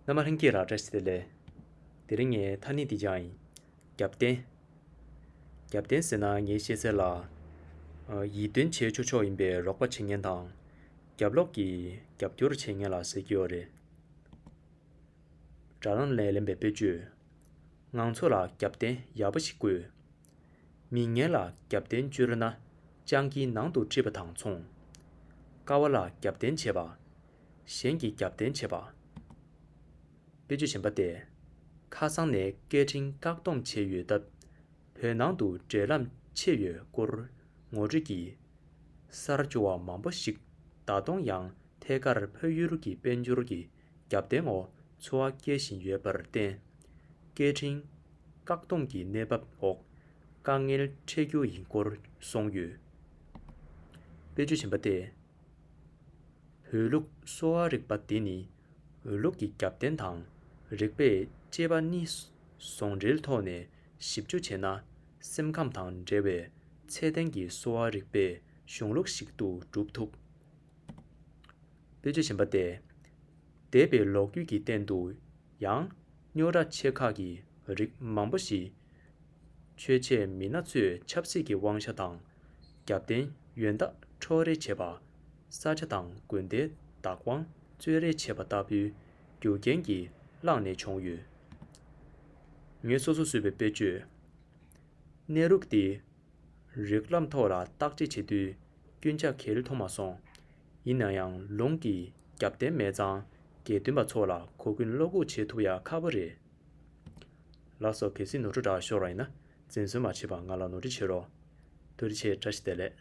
རྣལ་མ་ལྷན་སྐྱེས་རགས་བཀྲ་ཤིས་ལས། དེ་རིང་ངའི་མཐའ་ནི་འདི་ཀྱང་ཡིན། རྒྱབ་བརྟེན། རྒྱབ་བརྟེན་ཟེར་ན་ངའི་ཤེས་གསལ་ལ། ཡིད་རྟོན་བྱེད་ཆོག་ཆོག་ཡིན་པའི་རོགས་པ་བྱེད་མཁན་དང། རྒྱབ་ལོག་གི་རྒྱབ་སྐྱོར་བྱེད་མཁན་ལ་ཟེར་གྱི་ཡོད་རེད། དགྲ་རང་ལས་ལེན་པའི་དཔེར་བརྗོད། ངང་ཚོ་ལ་རྒྱབ་བརྟེན་ཡག་པོ་ཞིག་དགོས། མི་ངན་ལ་རྒྱབ་རྟེན་བཅོལ་ན། སྤྱང་ཀིའི་ནང་དུ་འཁྲིད་པ་དང་མཚུངས། དཀའ་བ་ལ་རྒྱབ་རྟེན་བྱེད་པ། གཞན་གྱི་རྒྱབ་རྟེན་བྱེད་པ། དཔེ་བརྗོད་བྱེད་པ་སྟེ། ཁ་སང་ནས་སྐད་འཕྲིན་བཀག་སྡོམ་བྱས་ཡོད་སྟབས། བོད་ནང་དུ་འབྲེལ་ལམ་ཕྱེ་ཡོད་སྐོར་ངོ་སྤྲོད་ཀྱིས། གསར་འབྱོར་བ་མང་པོ་ཞིག་ད་དུང་ཡང་ཐད་ཀར་ཕ་ཡུལ་གྱི་དཔལ་འབྱོར་གྱི་རྒྱབ་རྟེན་འོག་འཚོ་བ་སྐྱེལ་བཞིན་ཡོད་པར་བརྟེན། སྐད་འཕྲིན། བཀག་སྡོམ་གྱི་གནས་བབ་འོག་དཀའ་ངལ་འཕྲད་རྒྱུ་ཡིན་སྐོར་གསུངས་ཡོད། དཔེ་བརྗོད་བཞིན་པ་སྟེ། བོད་ལུགས་གསོ་བ་རིག་པ་འདི་ནི་འོས་ལུགས་ཀྱི་རྒྱབ་རྟེན་དང་རིག་པས་དཔྱད་པ་གཉིས་ཟུང་འབྲེལ་ཐོག་ནས་ཞིབ་འཇུག་བྱས་ན་སེམས་ཁམས་དང་འབྲེལ་བའི་ཚད་ལྡན་གྱི་གསོ་བ་རིག་པའི་གཞུང་ལུགས་ཤིག་ཏུ་གྲུབ་ཐུབ། དཔེ་བརྗོད་བཞིན་པ་སྟེ། འདས་པའི་ལོ་རྒྱུས་ཀྱི་སྟེང་དུ་ཡང། སྨྱོ་ར་ཆེ་ཁག་གི་རིགས་མང་པོ་ཞིག། ཆོས་བྱེད་མི་སྣ་ཚོས་ཆབ་སྲིད་ཀྱི་དབང་ཆ་དང། རྒྱབ་རྟེན་ཡོན་བདག་འཕྲོག་རེས་བྱེད་པ། ས་ཆ་དང་དགོན་སྡེའི་བདག་དབང་རྩོད་རེས་བྱེད་པ་ལྟ་བུའི་རྒྱུ་རྐྱེན་གྱིས་བསླངས་ནས་བྱུང་ཡོད། ངས་སོ་སོ་བཟོས་པའི་དཔེ་བརྗོད་གནས་རུག་འདི་རིགས་ལམ་ཐོག་ལ་བརྟག་དཔྱད་བྱེད་དུས་སྐྱོན་ཆ་གལ་མཐོང་མ་སོང། ཡིན་ན་ཡང་ལུང་གི་རྒྱབ་རྟེན་མེད་ཙང་དགེ་འདུན་པ་ཚོ་ལ་གོ་སྐོན་བློ་འགུག་བྱེད་ཐུབ་ཡག་ཁག་པོ་རེད། ལགས་སོ་གལ་སྲིད་ནོར་འཁྲུལ་དྲག་ཤོར་བ་ཡིན་ན་འཛིན་བཟོད་མ་བྱེད་པར་ང་ལ་ནོར་འཁྲུལ་བྱེད་རོགས། བསྟོད་ཆེ་བཀྲ་ཤིས་བདེ་ལེགས།